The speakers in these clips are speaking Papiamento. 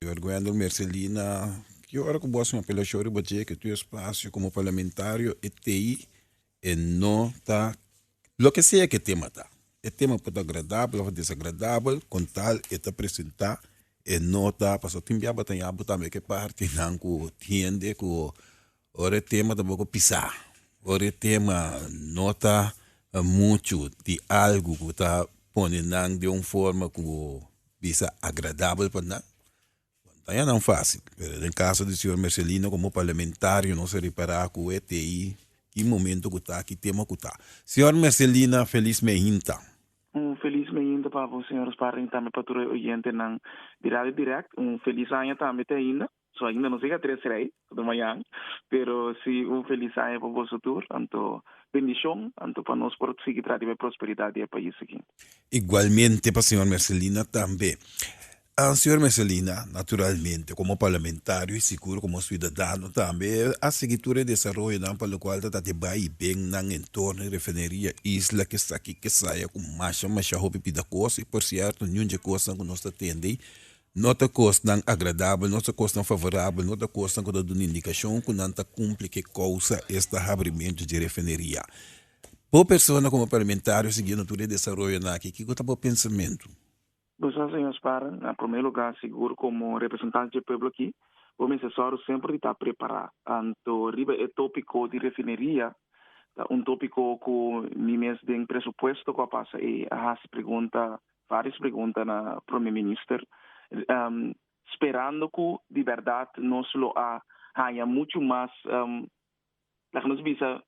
Werguendel Mercelina, ki ora ku bo a suma apelashon riba dje ke tu espasio komo parlamentario e tei e no ta loke sea ke tema ta, e tema por ta agradabel òf desagradabel kon tal e ta presentá e no ta pasobra tin biaba ta yabu tambe ke partinan ku hende ku Ora e tema ta boco pisá, ora e tema no ta mucho di algo cu ta pone nan den un forma cu bisa agradabel pa nan, no ta haya nan fácil. Pero den caso di señor Mercelino como parlamentario nos a repará cu e ta ahí ki momento cu ta, ki tema cu ta. Señor Mercelina, feliz mehinta. Un feliz mehinta pa bo señor Sparring y tambe pa tur e oyentenan di Radio Direct. Un feliz aña tambe te ainda. So ainda nos llega tres rey de mayan pero si un felis aña pa boso tur anto bendicion anto pa nos por sigui trata di bay prosperidad di e pais aki. Igualmente pa señor Mercelina tambe. Señor Mercelina naturalmente como parlamentario y seguro como ciudadano tambe a sigui tur e desaroyonan pa locual ta tabata e bay y ben nan en torno di refineria isla kesaki kesaya cu masha masha hopi bida cos y por cierto niun dje cosnan cu nos ta tende No ta kosnan agradabel, no ta kosnan favorabel, no ta kosnan ku ta duna indikashon ku nan ta kumpli ke kousa es ta habrimentu di refineria. Bo persona komo parlamentario siguiendo tur e desaroyonan aki kiko ta bo pensamentu? Boso señor Sparren, na promé lugá sigur komo representante dje pueblo aki bo mester sòru semper di ta prepará tantu riba e tópiko di refineria ta un tópiko ku ni mes den presupuesto ku a pasa ei a hasi pregunta Varios pregunta na Prome Minister, sperando cu di berdad nos lo a haña muchu mas, laga nos bisa,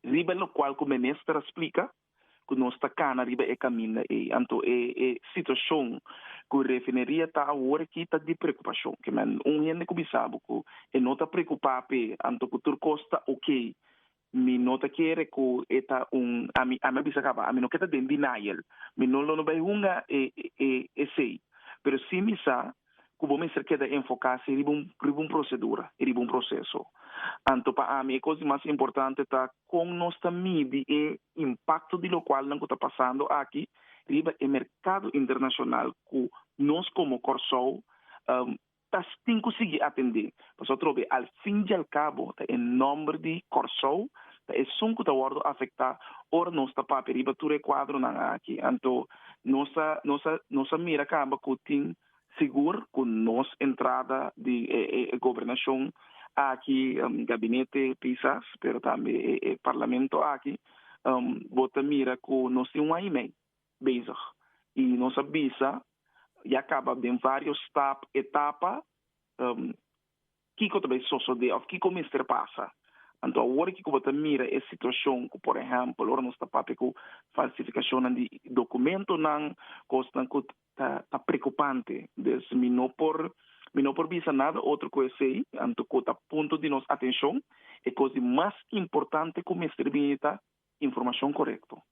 riba locual cu Minister a splica cu nos ta cana riba e caminda ey. Anto e situacion cu refineria ta awor aki ta di preocupacion. Kimen un hende cu bisabo cu e no ta preocupa p'e anto cu tur cos ta ok, Mi no ta kere ku e ta un, ami a bisa kaba, ami no ke ta den denial, mi no lo no bai hunga e e esei, pero si mi sa ku bo mester keda enfoká si riba un riba un prosedura i riba un proseso. Anto pa ami e kos di mas importante ta kon nos ta midi e impakto di lokual nan ku ta pasando aki riba e merkado internashonal ku nos komo Kòrsou Tas tin ku sigui atendé, pasobra tro b'e al fin di al kabo ta e nòmber di Kòrsou ta esun ku ta wòrdu afektá ora nos ta papia riba tur e kuadronan aki. Anto nos a nos a nos a mira kamba ku tin sigur ku nos entrada di e e gobernashon aki, gabinete kisas, pero tambe e e parlamento aki, bo ta mira ku nos tin un aña i mei. Bezig. I nos a bisa ya kaba den vários stap, etapa, kiko ta bai sosodé òf kiko mester pasa. Anto awor ki ku bo ta mira e situashon ku por ehèmpel ora nos ta papia ku falsifikashonnan di dokumentunan, kosnan ku ta ta prekupante. Des mi no por mi no por bisa nada otro ku esei. Anto ku ta punto di nos atenshon e kos di mas importante ku mester bini ta informashon korekto.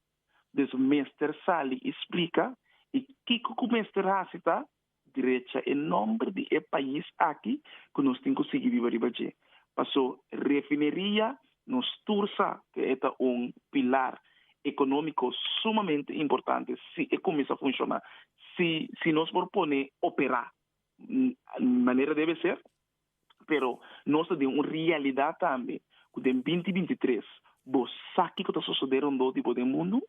Nos mester sali i splika i kiko ku mester hasi ta drecha e nòmber di e pais aki ku nos tin ku sigui biba riba dje. Paso refineria nos tur sa ku e ta un pilar ekonómiko sumamente importante si e kuminsá funshoná, si nos por pone operá manera debe ser. Pero nos ta den un realidad tambe cu den binti binti tres bo sa kico ta sosode rondó di bo den mundo,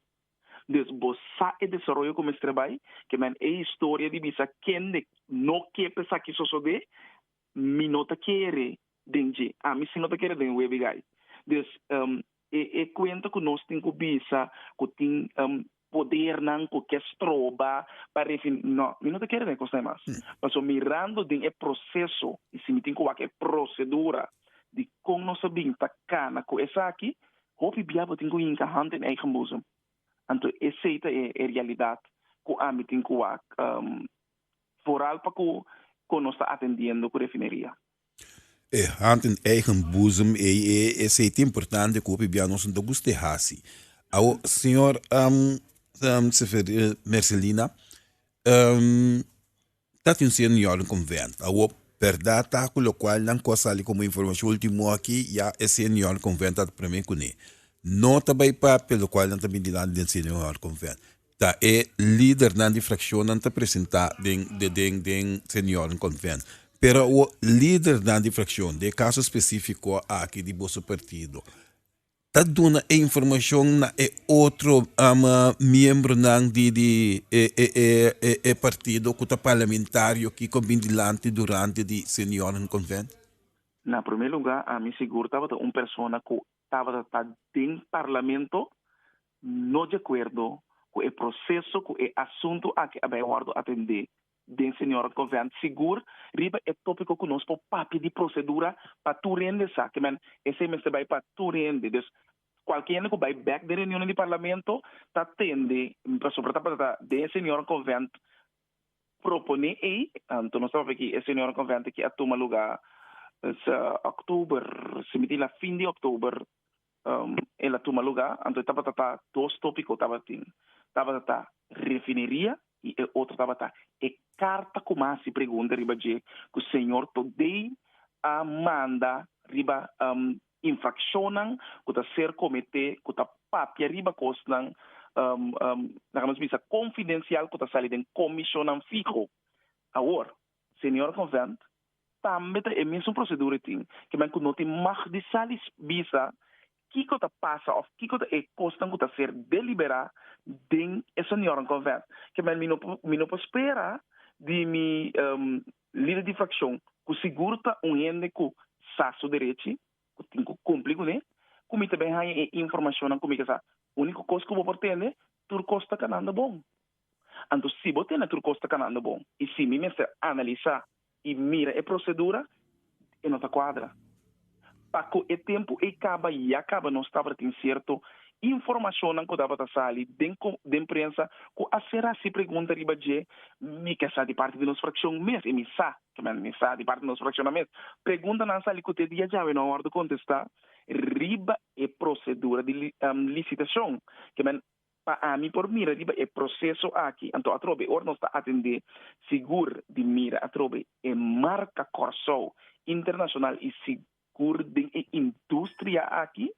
dus bo sa e desaroyo cu mester bay, ke men e historia di bisa kende no ke pa esaki sosode, mi no ta kere den dje, ami si no ta kere den Webigay. Dus. E e cuenta cu nos tin cu bisa cu tin podernan cu ke stroba pa refi no, mi no ta kere den cos na mas. Paso mirando den e proceso y si mi tin cu wak e procedura di con nos a bin ta cana cu esaki, hopi bia bo tin cu hinca hand in eigen boezem. Anto esey ta e e realidad cu ami tin cu wak foral pa cu con nos ta atendiendo cu refineria. E hand in eigen boezem ei e eseitie importante ku hopi bia nos no ta gusta e hasi awo señor Seferino Mercelina tati un señor yol den convent awo berdad ta ku lokual nan ko sali komo informacion ultimo aki ya e señor yol den convent a ta prome kune no ta bai papia lokual nan ta bintinan den señor yol den convent. Ta e lidernan di frakshonnan ta presentá den den den Senioren Konvènt. Pero awo lidernan di frakshon, den e kaso spesífiko aki di boso partido, ta duna e informashon na e otro miembronan di di e e e e e partido ku ta parlamentario kiko bin dilanti durante di Senioren Konvènt? Na promé lugá, ami sigur tabata un persona ku tabata ta den parlamento no di akuerdo ku e proseso ku e asuntu aki a bai wòrdu atendé den Seniorat Convent sigur riba e tópiko ku nos por papia di prosedura pa tur hende esaki men esei mester bai pa tur hende dus kualke hende ku bai bèk den reunionan di Parlamento ta tende pasobra ta basá den e Seniorat Convent proponé ei anto nos ta papia ki e Seniorat Convent aki a tuma lugá octuber si mi tin la fin di octuber El a tuma lugá, anto e tabata ta dos tópiko tabatin. Tabata ta refineria i e otro tabata e karta ku mas hasi pregunta riba dje ku señor Todei a manda riba infrakshonnan ku ta ser kometé ku ta papia riba kosnan laga nos bisa konfidensial ku ta sali den komishonnan fiho. Awor. Señor Convent, tambe ta e mismo procedura tin ki men cu no tin mag di sali bisa kico ta pasa of kico ta e cosnan cu ta ser delibera den e Señornan Convent. Ke men mi no mi no por spera di mi lider di fraccion, cu sigur ta un hende cu sa su derechi, cu tin cu cumpli cune, cu mi ta ben haya e informacionnan cu mi ke sa. Unico cos cu bo por tende, tur cos ta cananda bon. Anto si bo tene tur cos ta canando bon y si mi mester analisa y mira e procedura e no ta cuadra. Paco e tempo ey caba ya caba nos tabatin cierto informacionnan cu tabata sali den den prensa cu a ser haci pregunta riba dje mi ke sa di parti di nos fraccion mes y mi sa ke men mi sa di parti di nos fraccion nan mes preguntanan sali cu te dia djawe no a wordo contesta riba e procedura di licitacion ke men Pa ami por mira riba e proseso aki, anto atrobe ora nos ta atendé sigur di mira atrobe e marka Kòrsou internashonal i sigur den e industria aki,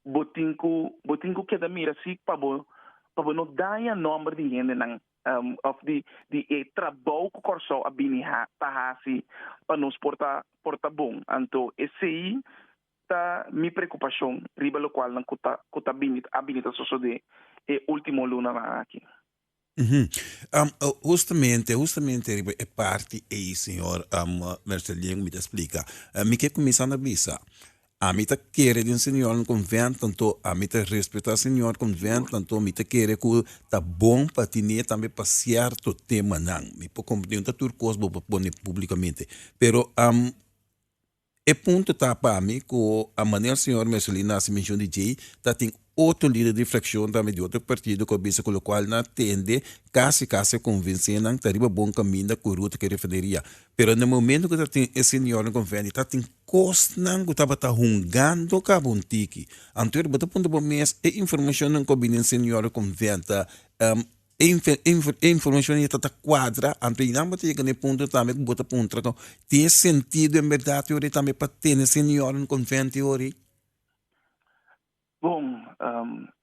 bo tin ku bo tin ku keda mira si pa bo pa bo no daña nòmber di hendenan òf di di e trabou ku Kòrsou a bini ta hasi pa nos por ta por ta bon. Anto esei Ta mi preocupacion riba locualnan cu ta cu ta bini a bini ta sosode e ultimo lunanan aki. Uhum. Um, justamente, justamente riba e parti ei, señor um, Merceldine, cu mi ta splica. Uh, mi ke cuminsa na bisa. Ami ta kere den señor un convent, tanto ami ta respeta señor convent, tanto mi ta kere cu ta bon pa tine tambe pa cierto temanan. Mi por comprende, no ta tur cos bo por pone publicamente. Pero, um. E punto ta pa mi cu a manera señor Mercelino a haci mencion di djey ta tin otro lider di fraccion tambe di otro partido cu a bisa cu locual nan a tende casi casi convencenan ta riba bon caminda cu Ruta ke refineria pero na e momento cu ta tin e señor na convenio ta tin cosnan cu tabata hungando caba un tiki anto bo ta puntra bo mes e informacionnan cu a bini e señor na conven ta e informacion aye ta cuadra anto y nan bo ta yega na e punto tambe ku bo ta puntra ku tin e sentido en berdad yori tambe pa tene señor en convento yori? Bon,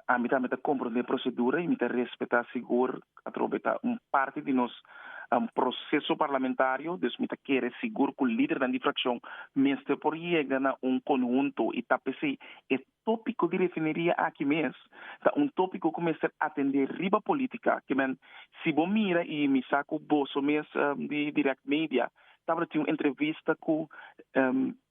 ami tambe ta comprende e procedura y mi ta respeta sigur atrobe e ta un parti di nos proceso parlamentario, dus mi ta kere sigur ku lidernan di fraccion mester por yega na un conhunto y ta p'esey e Tópiko di refineria aki mes ta un tópiko ku mester atendé riba polítika. Ke men, si bo mira i mi sa ku boso mes di Direct Media tabata tin un entrevista ku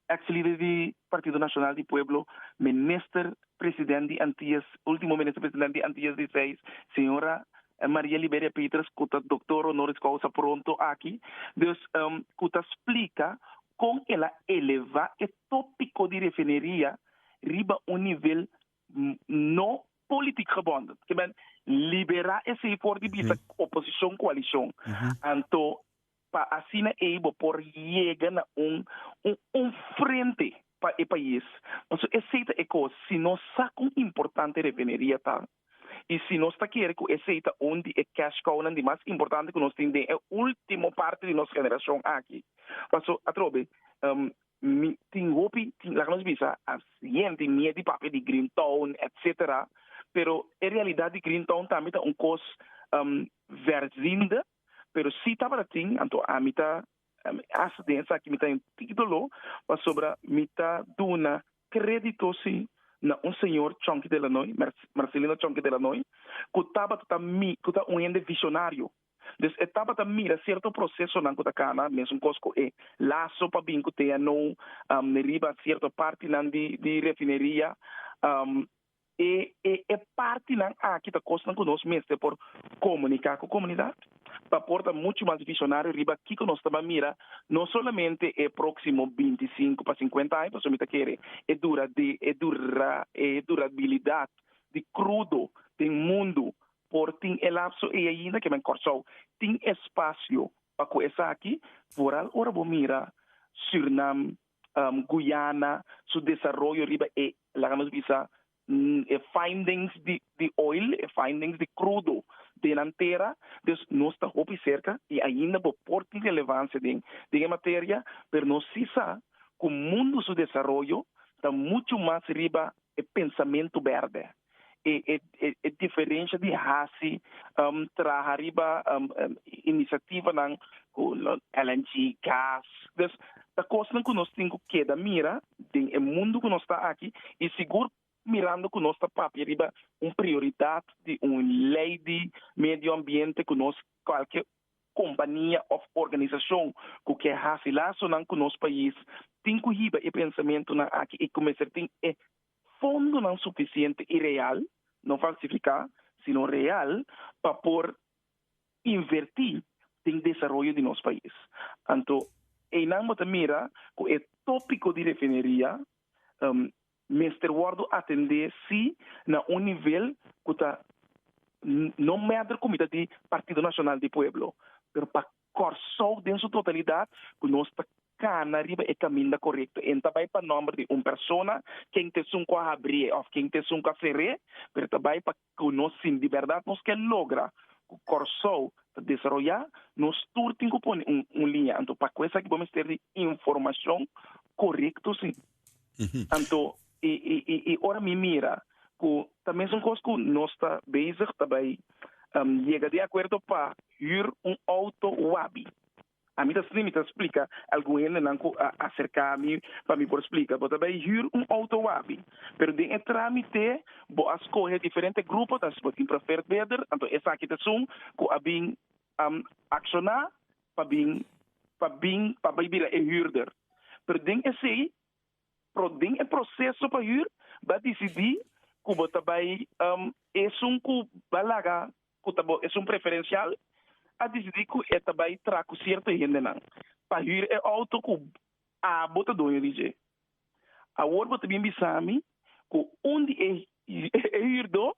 eks lider di Partido Nacional di Pueblo, minister president di Antias, último minister president di Antias di Seis, señora Maria Liberia Peters, ku ta doktor honoris causa pronto aki, dus ku ta splika kon el a elevá e tópiko di refineria riba un nivel no politic gebonden. Ke men libera esei for di bista oposicion coalicion. Anto pa asina ei bo por yega na un un frente pa e pais. Pasobra esei ta e cos si nos sa con importante refineria ta. I si nos ta kere ku esei ta un di e cash cow-nan di mas importante ku nos tin den e último parti di nos generashon aki. Paso, atrobe, mi tin hopi, laga nos bisa asi, hende mier di papia di Green Town, etsetera, pero e realidat di Green Town tambe ta un kos verzindo, pero si tabata tin, anto ami ta, hasta den esaki mi ta hentido lo, pasobra mi ta duna krédito si na un señor Chonky Delanoy, Marcelino Chonky Delanoy, ku tabata ta ku ta un hende visionario. Dus e tabata mira sierto prosesonan ku ta kana, mesunkos ku e laso pa bin ku TNO riba sierto partinan di refineria. E e e partinan aki ta kosnan ku nos mester por komuniká ku komunidat pa por ta muchu mas visionario riba kiko nos ta ban mira no solamente e próksimo binti sinku pa sinkuenta aña pasobra mi ta kere e dura de e dura e durabilidat di krudo den mundu por tin e lapso ei ainda kema en Kòrsou tin espasio pa ku esaki vooral ora bo mira Sürnam Guyana su desaroyo riba e laga nos bisa e findings di oil, e findings di crudo den nan tera. Dus nos ta hopi serka y ainda bo por tin relevancia den e materia, pero nos si sa cu mundo su desaroyo ta mucho mas riba e pensamento berde. e e e diferensha di hasi um traha riba um inisativanan ku LNG, gas. Dus ta kosnan ku nos tin ku keda mira den e mundu ku nos ta aki i sigur mirando ku nos ta papia riba un prioridat di un lei di medioambiente ku nos kualke kompania òf organisashon ku ke hasi lasonan ku nos pais tin ku hiba e pensamentunan aki i kumesa tin e Fondonan sufisiente i real, no falsifiká, sino real, pa por invertí den desaroyo di nos pais. Anto einan bo ta mira ku e tópiko di refineria mester wòrdu atendé sí na un nivel ku ta no mèder ku mitad di Partido Nacional di Pueblo, pero pa Kòrsou den su totalidat ku nos ta kana riba e kaminda korekto. E no ta bai pa nòmber di un persona, ken ta esun ku a habrié òf ken ta esun ku a feré, pero ta bai pa ku nos si di bèrdat nos ke logra ku Kòrsou ta desaroyá, nos tur tin ku pone un liña. Anto pa ku esaki bo mester di informashon korekto si. Anto i i i i ora mi mira ku ta mesun kos ku nos ta bezig ta bai yega di akuerdo pa hür un outo wabi. A mi ta sli mi ta splika algun hendenan ku a aserká mi pa mi por splika bo ta bai hür un outo wabi, pero den e trámite bo a skohe diferente gruponan si bo tin profertbeder, anto esaki ta esun ku a bin a akshoná pa bin pa bin pa bai bira e hürder, pero den esei pro den e proseso pa hür b'a disidí ku bo ta bai esun ku b'a laga ku ta bo esun preferensial a disidí ku e ta bai tra ku sierto hendenan pa hür e outo ku abo ta dueño di dje. Awor bo ta bin bisa mi ku un di e hürdó,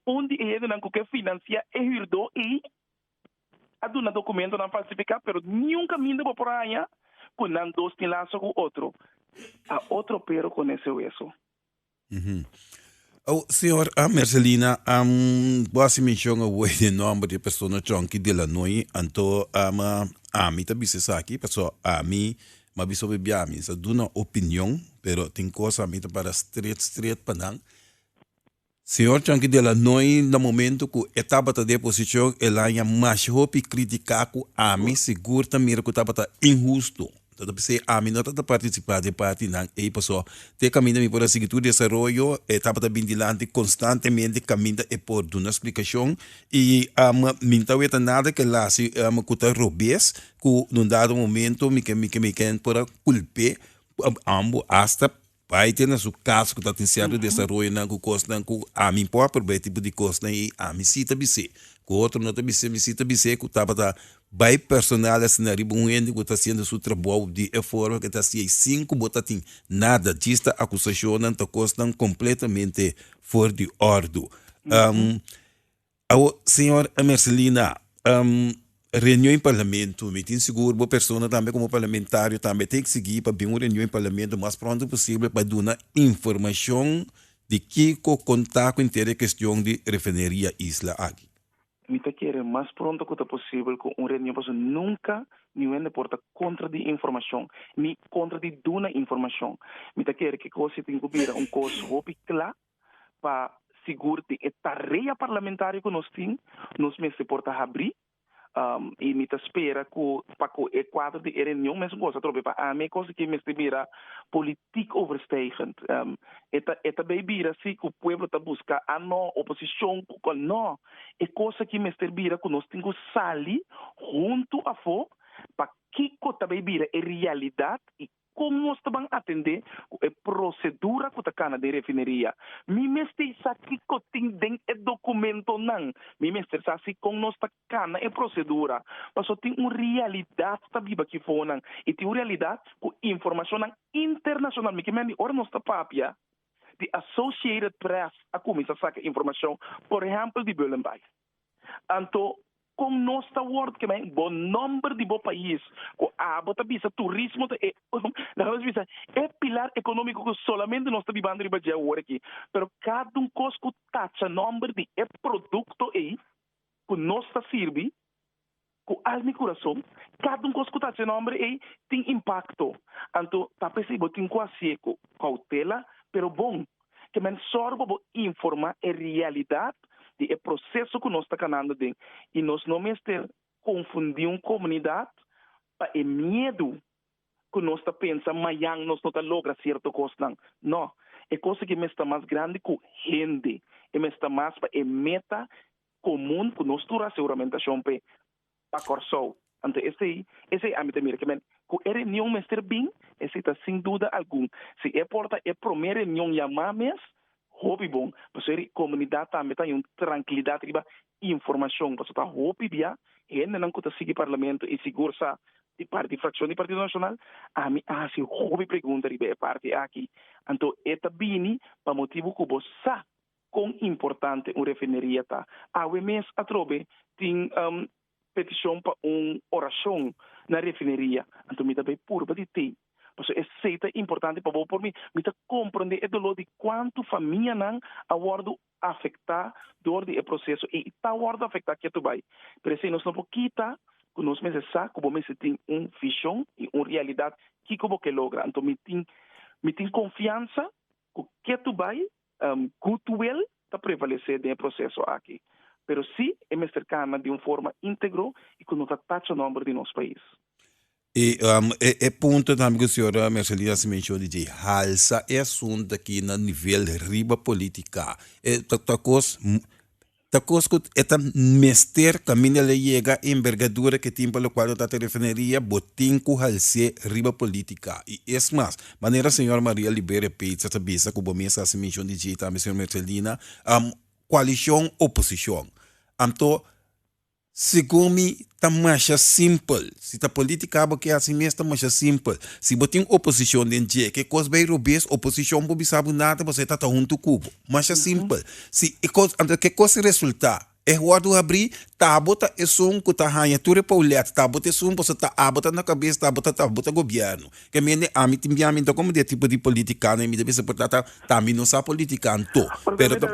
un di e hendenan ku ke finansiá e hürdó ei, a duna dokumentonan falsifiká, pero niun kaminda bo por haña ku nan dos tin laso ku otro. A otro pero konese weso. Awo, señor a Mercelina, am bo a hasi menshon awor den nòmber di e persona chònki di Lanoy, anto am ami ta bisa esaki paso ami m'a bisa obe bia mi sa duna opinion, pero tin kos ami ta para stret stret pa nan. Señor chònki di Lanoy na momento ku e tabata den e posishon el haña mash hopi kritika ku ami sigur ta mira ku tabata inhusto. Ta ta p'esei ami no ta ta partisipá den partinan ei pasó te kaminda mi por a sigui tur desaroyo e tabata bin dilanti konstantemente kaminda e por duna splikashon i ame mi ta weta nada ke la si ame ku ta robes ku un dado momento mi ke mi ke mi ken por a kulp'é ambos hasta Bai te na su cas cu ta tin cierto desaroyonan cu cosnan cu ami por proveer tipo di cosnan y ami si ta bis'e cu otro no ta bis'e mi si ta bis'e cu tabata bai personal asina riba un hende cu ta haciendo su trabou di e forma que ta haci ey sin cu bo ta tin nada dista acusacionnan ta cosnan completamente for di ordo. Awo, señor Mercelina, um reunion in parlamento, mi tin sigur bo persona tambe como parlamentario tambe ta exigi pa bin un reunion in parlamento lo mas pronto posible pa duna informacion di kico con ta cu inter e cuestion di refineria isla aki. Mi ta kere mas pronto cu ta posible cu un reunion pasobra nunca mi wende por ta contra di informacion ni contra di duna informacion. Mi ta kere kico si tin cu bira un cos hopi cla pa sigur den e tarea parlamentario ku nos tin nos mester por ta habrí i mi ta spera ku pa ku e kuadro di e reunion mesun kos atrobe. Pa ami e kos aki mester bira politik overstijgend. E ta e ta bei bira si ku pueblo ta buska anò, oposishon ku kual nò. E kos aki mester bira ku nos tin ku sali huntu afó pa kiko ta bei bira e realidat i Kon nos ta ban atendé ku e prosedura ku ta kana den refineria? Mi mester sa kiko tin den e dokumentonan. Mi mester sa si kon nos ta kana e prosedura, paso tin un realidat ta biba aki fonan i tin un realidat ku informashonnan internashonal. Mi ke manda di ora nos ta papia di Associated Press a kuminsá saka informashon, por ehèmpel di Bullenbeis. Anto, kon nos ta wòrd kemé bo nòmber di bo pais ku abo ta bisa turismo ta e laga nos bisa e pilar ekonómiko ku solamente nos ta bibando riba dje awor aki? Pero kada un kos ku tacha nòmber di e produkto ei ku nos ta sirbi, Ku alma i kurason, kada un kos ku ta hasi e nòmber ei tin impakto. Anto ta p'esei bo tin ku hasié ku koutela pero bon. Ke mèn sòru pa bo informá e realidat di e proseso ku nos ta kanando den i nos no mester konfundí un komunidat pa e miedu ku nos ta pensa mayan nos no ta logra sierto kosnan. No, e kos aki mester mas grandi ku hende, e mester mas pa e meta komun ku nos tur a hasi uramentashon p'e pa Kòrsou. Anto esei, esei ami ta mira ke men ku e reunion mester bin, esei ta sin duda algun. Si e por ta e promé reunion yamá mes, hopi bon, pasobra e di komunidat tambe ta yon trankilidat riba informashon, pasobra ta hopi bia hendenan ku ta sigui Parlamento i sigur sa di parti di frakshon di Partido Nashonal. Ami a hasi hopi pregunta riba e parti aki, anto e ta bini pa motibu ku bo sa. kon importante un refineria ta. Awe mes atrobe tin un petishon pa un orashon na refineria. Anto mi ta bai purba di té. Paso esei ta importante pa bo por mi. Mi ta komprondé e doló di kuantu famianan a wòrdu afektá dor di e proseso i ta wòrdu afektá kia tu bai. Pero esei nos no por kita ku nos mester sa ku bo mester tin un vishon i un realidat kiko bo ke logra. Anto mi tin mi tin konfiansa ku ke tu bai Goodwill ta prevalesé den e proseso aki, pero sí e mester kana di un forma íntegro i ku no ta tacha nòmber di nos pais. I e punto tambe ku señora Merceline a hasi menshon di dje, halsa e asuntu aki na nivel riba polítika, ta kos. Ta kos ku e ta mester kaminda el a yega e envergadura ku e tin pa lokual no ta ta e refineria, bo tin ku hals'é riba politika. I es mas, manera señor Maria Libere Peetsa ta bisa ku bo mes ta hasi menshon di djei tambe señor Mercedina, am kualishon oposishon. Anto, Segun mi ta masha simpel, si ta politica bo ke asin mes ta masha simpel, si bo tin oposicion den dje ke cos bay robes oposicion bo bisa bo nada bo seta ta hunto cu bo, masha simpel, si e cos anto ke cos resulta e wordo habri ta bo ta esun cu ta hanja tur e poulet ta bo ta esun boso ta abo ta na cabes ta bo ta ta bo ta gobierno ke mende ami tin bia ami ta como dia tipo di politica nan mi ta bisa por ta ta ta mi no sa politica anto pero ta.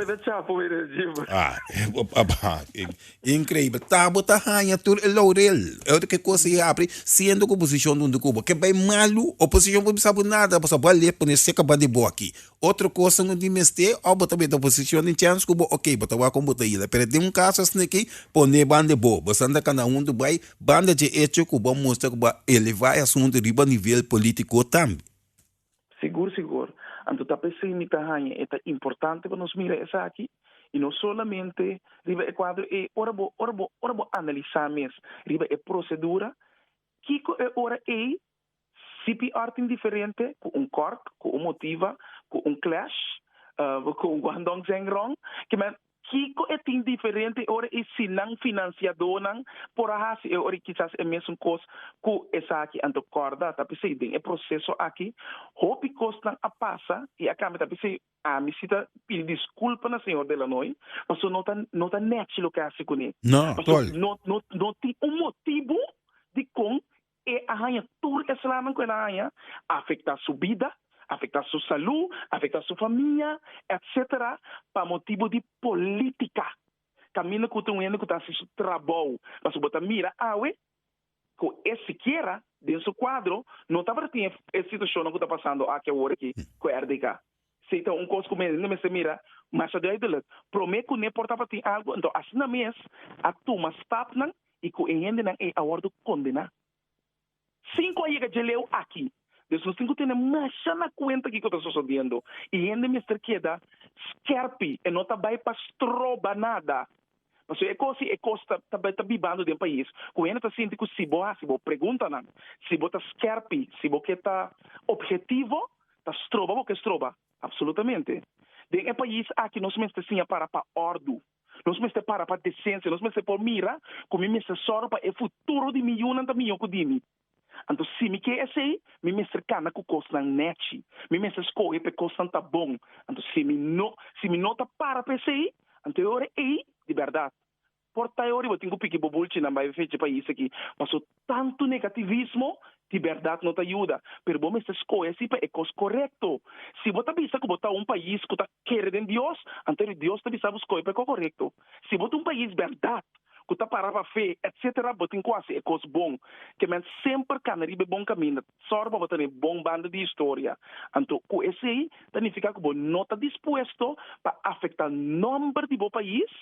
Increibel ta bo ta haña tur e laurel e otro ke cosa y apri siendo cu posicion dunde cu bo ke bay malu o posicion cu bisa bo nada bo sa bale pone seca ba di bo aki otro cosa no tin mester of bo ta mete posicion den chance cu bo ok bo ta wak con bo ta yila pero den un caso asina aki pone ban de bo bo sa anda cana hunto bay banda dje hecho cu bo a mustra cu bo a eleva e asunto riba nivel politico tambe. Sigur sigur. Anto ta p'esei mi ta haña e ta importante pa nos mira esaki, i no solamente riba e kuadro ei, ora bo ora bo ora bo analisá mes riba e prosedura, kiko e ora ei CPR tin diferente ku un kòrk, ku un motiva, ku un clash, ku un guandong zeng rong, kiman Kiko e tin diferente ora e sinan finansiadónan por a hasi e ora i kisas e mesun kos ku esaki anto? Kòrda, ta p'esei den e proseso akí hopi kosnan a pasa i a kambia. Ta p'esei ami si ta pidi diskulpa na Señor Delanoy, pasobra no ta no ta nèchi loke a hasi kuné, pasobra no no no tin un motibu dikon E a haña tur e slanan ku el a haña, a afektá su bida, a afektá su salú, a afektá su famia, etc. Pa motibu di polítika. Kaminda ku ta un hende ku ta hasi su trabou. Pasobra bo ta mira awe ku e sikiera den su kuadro no tabata tin e situashonnan ku ta pasando aki awor aki ku rdk. Si ei ta un kos ku mi no mester mira masha duidelik, promé kuné por tapa tin algu, anto asina mes a tuma stapnan i ku e hendenan ei a wòrdu kondená. Sinku a yega djeleu aki, dus nos tin ku tene masha na kuenta kiko ta sosodiendo i hende mester keda skèrpi, e no ta bai pa stroba nada. Pasobra e kos, si e kos ta ta bibando den pais ku hende ta sinti ku si bo hasi bo preguntanan, si bo ta skèrpi, si bo ke ta objetivo, ta stroba bo, ke stroba apsolutamente. Den e pais aki nos mester siña para pa òrdu, nos mester para pa desensia, nos mester por mira ku mi mester sòru pa e futuro di mi yunan ta mihó ku di mi. Anto si mi ke esei, mi mester kana ku kosnan nèchi. Mi mester skohe pa e kosnan ta bon. Anto si mi no si mi no ta para pa esei, anto e ora ei di bèrdat por ta e ora bo tin ku piki bo bulchinan bai fechi pais aki. Paso tantu negativismo di bèrdat no ta yuda. Pero bo mester skohe esei pa e kos korekto. Si bo ta bisa ku bo ta un pais ku ta kere den Dios, anto ora Dios ta bisa bo skohe pa e kos korekto. Si bo ta un pais berdad cu ta para pa fe, etc. Bo tin cu haci e cos bon. Ke men semper cana riba e bon caminda. Sor pa bo ta na e bon banda di historia. Anto, cu esey ta nifica cu bo no ta dispuesto pa afecta nomber di bo pais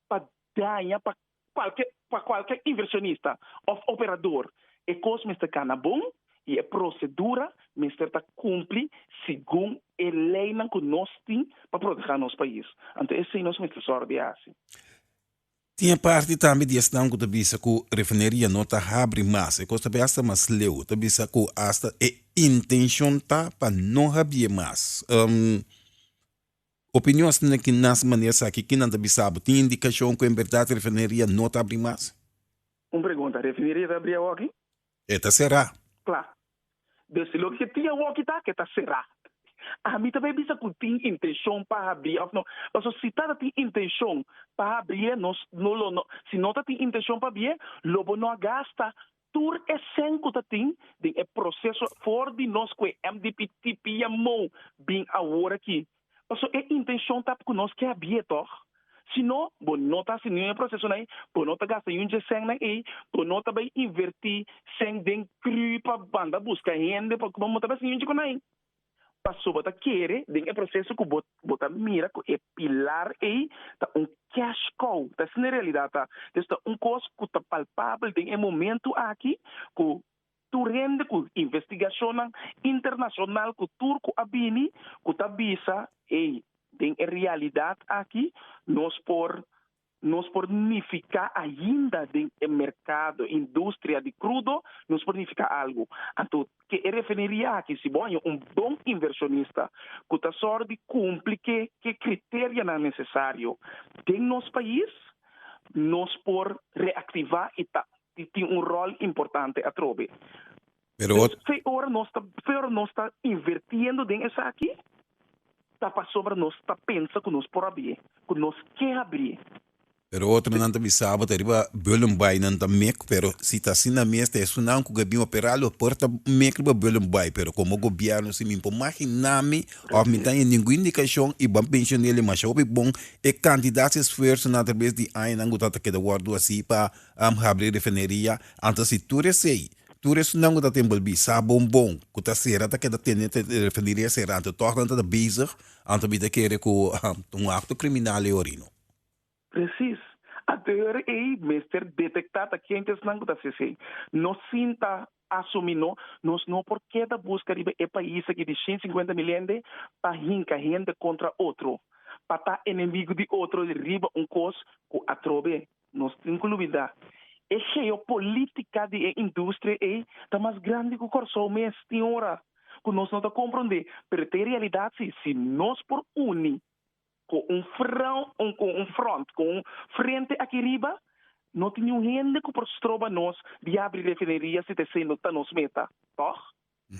pa daña pa Cualke, pa cualke inversionista of operador e cos mester cana bon y e procedura mester ta cumpli segun e leynan cu nos tin pa proteha nos pais. Anto esey nos mester zorg di haci. Tin e parti tambe di esnan cu ta bisa cu refineria no ta habri mas. E cos ta bay hasta mas leu. Ta bisa cu hasta e intencion ta pa no habi'e mas. Opinionsnan na ki nas manera esaki ki nan ta bisa bo? Tin indikashon ku en bèrdat refineria no ta abri mas? Un pregunta, Refineria ta abri awoki? E ta será. Kla. Des di loke ke tin awoki ta ke ta será. Ami ta bai bisa ku tin intenshon pa habria òf no. Paso si ta ta tin intenshon pa habrié, nos no lo no. Si no ta tin intenshon pa habrié, lo bo no a gasta Tur e sen ku ta tin den e proseso for di nos ku e MDP tipi yamó bin awor aki, paso e intenshon ta ku nos ke a bi'é tòg? Si no, bo no ta hasi niun e prosesonan ei, bo no ta gasta niun dje sennan ei, bo no ta bai invertí sen den krù pa banda buska hende pa bo no ta bai hasi niun dje ku nan. Paso bo ta kere den e proseso ku bo bo ta mira ku e pilar ei ta un cash cow, ta esei na realidad ta, dus ta un kos ku ta palpabel den e momento aki ku tur hende ku investigashonnan internashonal ku tur ku a bini ku ta bisa ey den e realidad aki nos por Nos por nifiká ainda den e merkado, industria di krudo, nos por nifiká algu. Anto ke e refineria aki, si bo haña un bon inversionista ku ta sòru di kumpli ke ke kriterianan nesesario den nos pais, nos por reaktivá i ta tin un ròl importante atrobe. Pero ot. Fe ora nos ta fe ora nos ta invirtiendo den esaki ta pasobra nos ta pensa ku nos por habi e, ku nos ke habi e. Pero otronan ta bisa bo ta riba Bullenbaai nan ta mek pero si ta asina mes ta esunnan ku ke bin opera lo por ta mek riba Bullenbaai pero komo gobièrnu si mi por magina mi òf mi ta haña ningun indikashon i ban penshonel e masha hopi bon e kantidat esfuersonan atraves di añanan ku ta ta keda wòrdu hasi pa habri refineria anto si tur esei Tur esnan ku ta tin balbí sa bombon ku ta sera ta keda tende te e refineria sera anto tòg nan ta bezig anto mi ta kere ku un akto kriminal e orí no. Presis. A deur ei mester detektá ta ken ku esnan ku ta hasi esei. Nos sinta asumí no, nos no por keda buska riba e pais aki di shin sinkuenta mil hende pa hinka hende kontra otro, pa ta enemigu di otro riba un kos ku atrobe. Nos tin ku lubidá, e geopolítika di e industria ei ta mas grandi ku Kòrsou mes. Tin ora ku nos no ta komprondé, pero ta e realidat si, si nos por uni ku un frou, ku un front, ku un frente aki riba, no tin niun hende ku por stroba nos di abri refineria si ta esei no ta nos meta. Tòg?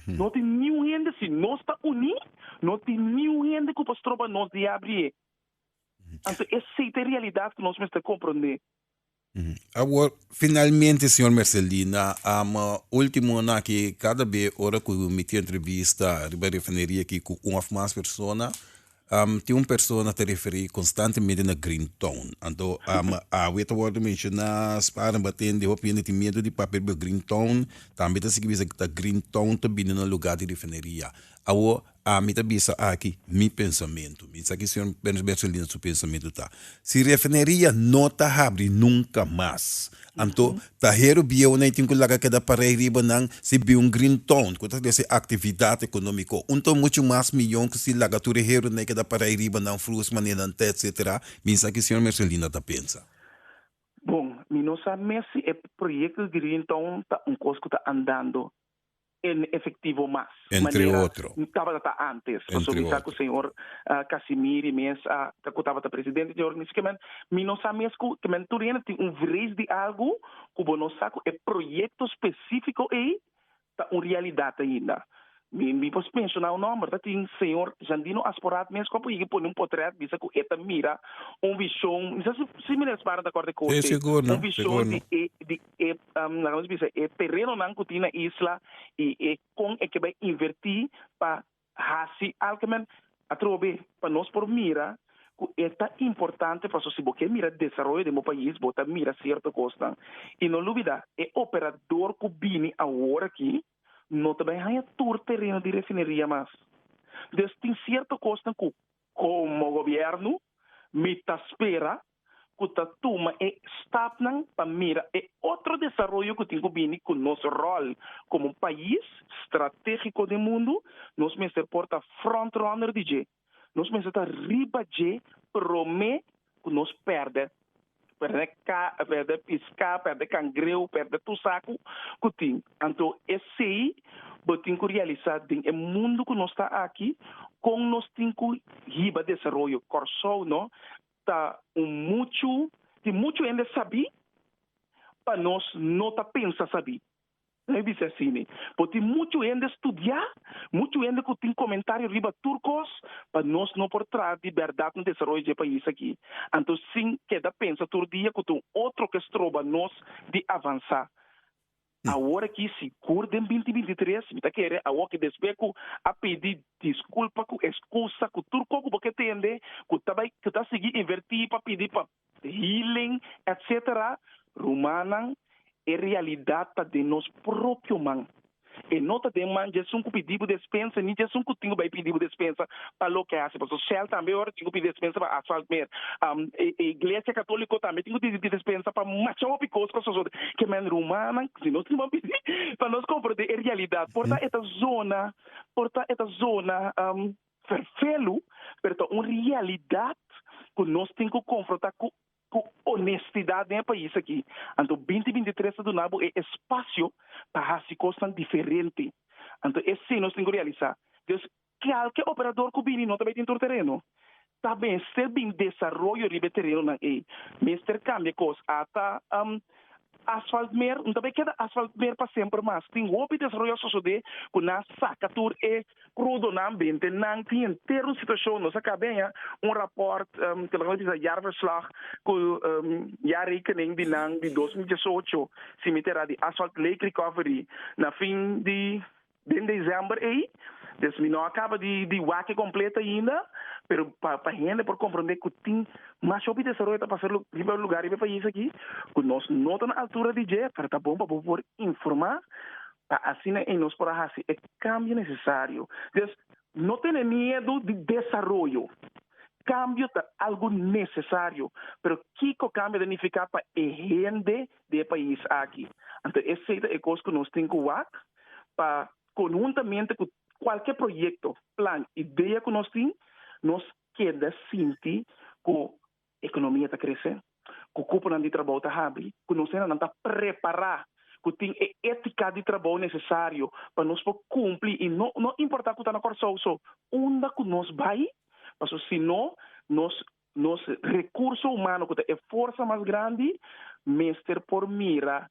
No tin niun hende, si nos ta uní, no tin niun hende ku por stroba nos di abri e. Anto esei ta e realidat ku nos mester komprondé. Awor, finalmente, señor Mercelina, amo último nan aki, kada be ora ku mi tin entrevista riba refineria aki ku un òf mas persona, tin un persona ta referí konstantemente na Green Town. Anto, amo awe ta wòrdu menshoná, Spaarne batende, hopi hende tin miedu di papia riba Green Town, tambe ta sigui bisa ta Green Town ta bini na lugá di refineria. Awor, A mi ta bisa aki mi pensamentu. Mi sa ki señor Bersoldina su pensamentu ta. Si refineria no ta habri nunca mas, anto taheru bieunan y tin cu laga keda para ey riba nan, si bin un green town cu ta trae si actividad economico, un ton mucho mas miyon cu si laga tur e herunan y keda para ey riba nan, fruits manenan ta etcetera, mi sa ki señor Bersoldina ta pensa. Bon, mi no sa mes si e proyecto di green town ta un cos cu ta andando en efectivo mas manera tabata ta antes paso mi sa cu señor Casimiri mes a ta cu tabata presidente dje organismo kimen mi no sa mes cu kimen tur hende tin un vrees di algo cu bo no sa cu e proyecto specifico ey ta un realidad ainda mi mi por menciona un nomber ta tin señor Jandino Asporat mes cu apo yega pone un potret bisa cu e ta mira un vision mi sa si si Mineer Sbarra ta acorda di cosa ey un vision di e di e e terenonan ku tin na isla i e kon e ke bai invertí pa hasi alkemen atrobe pa nos por mira ku e ta importante paso si bo ke mira desaroyo den bo pais bo ta mira sierto kosnan i no lubidá e operador ku bini awor aki no ta bai haña tur tereno di refineria mas des tin sierto kosnan ku Komo Gobièrnu, mi ta spera ku ta tuma e stapnan pa mira e otro desaroyo ku tin ku bini ku nos ròl komo un pais stratégiko den mundu. Nos mester por ta frontrunner di dje. Nos mester ta riba dje promé. cu nos perde, perde car, perde pisca, perde cangreu, perde tur sacu cu tin. Anto esey bo tin cu realisa den e mundo cu nos ta aki con nos tin cu hiba desaroyo. Corsou no ta un muchu, tin muchu hende sabi pa nos no ta pensa sabi. Nan bisa asini, Por tin muchu hende studiá, muchu hende ku tin komentario riba tur kos, pa nos no por traha di bèrdat na desaroyo dje pais akí, anto sin keda pensa tur dia ku ta un otro ke stroba nos di avansá. Awor akí sigur den binti binti tres mi ta kere a woki despues ku a pidi diskulpa ku eskusa ku tur kos ku bo ke tende ku ta bai ku ta sigui invertí pa pidi pa healing, etc. Rumannan, e realidad ta den nos propio man. E no ta den man djesun cu pidi bo despensa ni djesun cu tin cu bay pidi bo despensa pa loke hasi. Pasobra Shell tambe ora tin cu pidi despensa pa asfalt mer. E Iglesia Catolico tambe tin cu pidi despensa pa masha hopi cos cu a sosode. Ke men rumannan, si nos tin man pidi pa nos comprende e realidad por ta e ta zona, por ta e ta zona. Vervelu, pero ta un realidat ku nos tin ku konfrontá ku ku onestidat den e pais aki. Anto binti binti tres ta duna bo e espasio pa hasi kosnan diferente. Anto esei nos tin ku realisá. Dios, kalke operador ku bini no ta bai tin tur tereno. Ta mester bin desaroyo riba e terenonan ei. Mester kambia kos. Ata Asfalt mer, no ta bay keda asfalt mer pa semper mas. Tin hopi desaroyo a sosode cu nan a saca tur e crudonan binte. Nan tin henter un situacion, nos a cabea un rapport, kende cu nan ta bisa jaarverslag, cu jaarrekening di nan di dos mil diesocho, si mi ta era di Asfalt Lake Recovery, na fin di. Den dezember ei, des mi no a kaba di wak kompleto ainda, pero pa hende por komprondé ku tin mas hopi desaroyo ta pasá riba lugá riba e pais aki, ku nos no ta na altura di dje, pero ta bon pa bo por informá pa asina ei nos por a hasi e kambio nesesario. Des, No tene miedu di desaroyo. Kambio ta algu nesesario, pero kiko kambio ta nifiká pa e hende di e pais aki? Anto esei ta e kos ku nos tin ku wak pa konhuntamente ku kualke proyekto, plan, idea ku nos tin, nos keda sinti ku Ekonomia ta kresé, ku kuponan di trabou ta habri, ku nos hendanan ta prepará, ku tin e étika di trabou nesesario pa nos por kumpli i no no importá ku ta na Kòrsou. So, unda ku nos bai? Paso si no, nos nos rekurso humano, ku ta e forsa mas grandi, mester por mira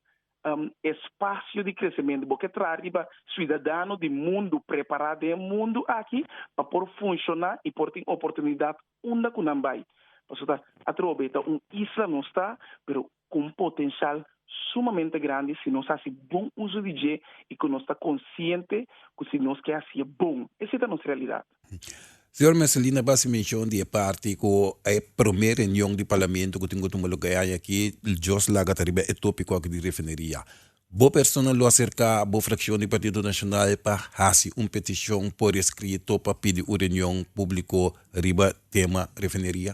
espasio di kresementu. Bo ke traha riba siudadano di mundu prepará den e mundu aki pa por funshoná i por tin oportunidat Unda cu nan bay? Pasobra ta atrobe ta un isla nos ta, pero cu un potencial sumamente grandi si nos haci bon uso di dje y cu nos ta consciente cu si nos ke haci'e bon. Esey ta nos realidad. Señor Messelina ba haci mencion di e parti cu e prome reunion di Parlamento cu tin cu tuma lugar e aña aki, Jos laga ta riba e topico aki di refineria. Bo persona lo aserká bo frakshon di Partido Nashonal pa hasi un petishon por eskrito pa pidi un reunion públiko riba tema refineria?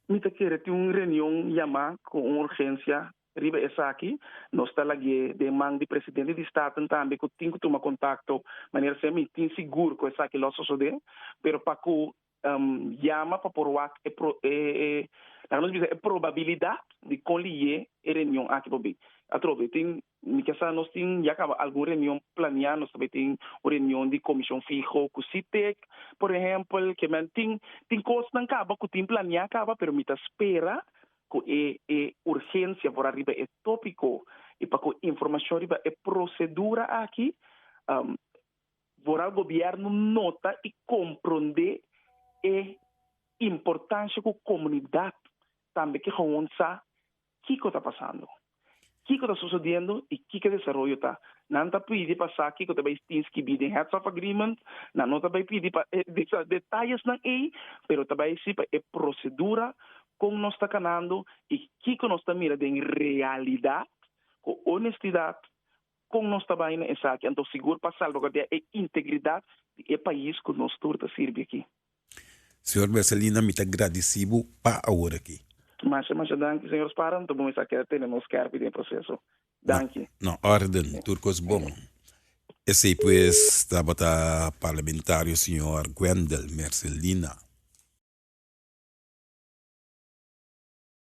Mi ta kere tin un reunion yamá ku un urgensia riba esaki. Nos ta lagu'é den man di presidente di Staten tambe ku tin ku tuma kontakto manera siempre. Mi tin sigur ku esaki lo sosodé, pero pa ku yama pa por wak e laga nos bisa e probabilidat di kon liye e reunion aki por bin. Atrobe tin mi ke sa nos tin ya kaba algun reunion plania, nos tambe tin un reunion di komishon fiho ku CTEC por ehempel, ke men tin tin kosnan kaba ku tin plania kaba pero mi ta spera ku e e urgensia por a riba e topiko i pa ku informashon riba e prosedura aki Vooral gobierno nota y compronde e importancia cu comunidad tambe ke gewoon sa kico ta pasando, kico ta sucediendo y kico e desaroyo ta. Nan ta pidi pa sa kico ta bay tin skibi den heads of agreement, nan no ta bay pidi pa e detalesnan ey, pero ta bay si pa e procedura con nos ta canando y kico nos ta mira den realidad cu honestidad, Kon nos ta bai na esaki anto sigur pa salbaguardia e integridat di e pais ku nos tur ta sirbi aki? Señor Mercelina, mi ta gradisí bo pa awor aki. Masha masha danki, señor Sparham. Ta bon esaki a tene nos kèrpi den e proseso. Danki. Na órden, tur kos bon. Esei pues tabata parlamentario señor Wendel Mercelina.